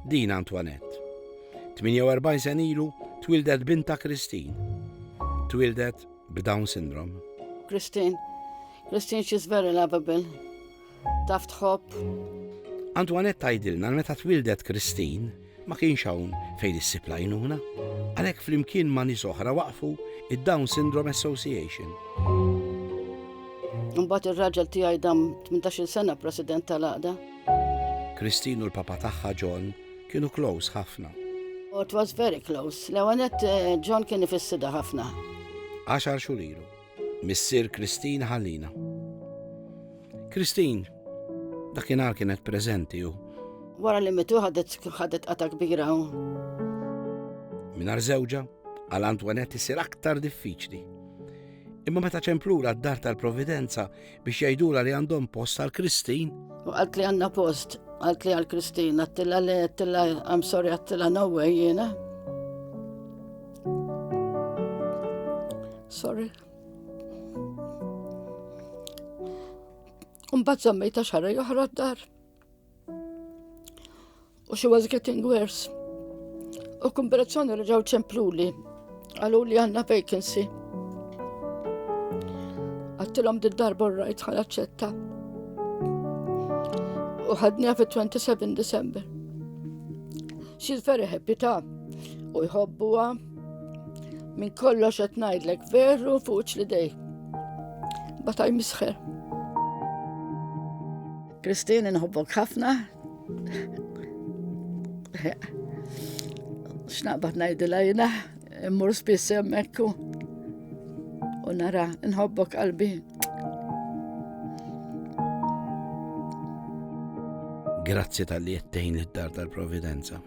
Din Antoinette. 48 sen ilu twildet binta Christine. Twildet b'Down syndrome. Christine. Christine, she's very lovable. Taf tħobb. Antoinette tajdilna meta twildet Christine ma kienx hawn fejn issib lajnuna. Għalhekk flimkien ma' nies oħra waqfu id-Down Syndrome Association. Imbagħad ir-raġel tiegħi dam 18 sena president tal-għaqda. Christine u l-papa tagħha John kienu close ħafna. Oh, it was very close. L-ewanet eh, John kien ifissida ħafna. Għaxar xurilu. Missir Christine ħallina. Christine, dakinhar kienet preżenti u. Wara li mitu ħadet ħadet qata kbira u. Minar żewġa, għal Antoinette isir aktar diffiċli. Imma meta ċemplura d-dar tal-Providenza, biex jgħidula li għandhom post għal Kristin. U għalt li għanna post, għalt li għal Kristin, għattila li għattila, I'm sorry, għattila no way jena. Sorry. Umbat zammejta xarra joħra d-dar. U she was getting worse. U kumberazzjoni li ġew ċempluli, għalu li għanna vacancy. Għattilom did darba rajt ħal ċetta. U ħadnija fit-27 December. She's very happy ta' u jħobbuha Min kollox qed ngħidlek veru fuq li dej. Bataj misħer. Christine, nħobbok ħafna. X'naqbad ngħidilha jiena immur spiss hemmhekk u nara nħobbok qalbi. Grazzi tal-li jettejn id-dar tal-Providenza.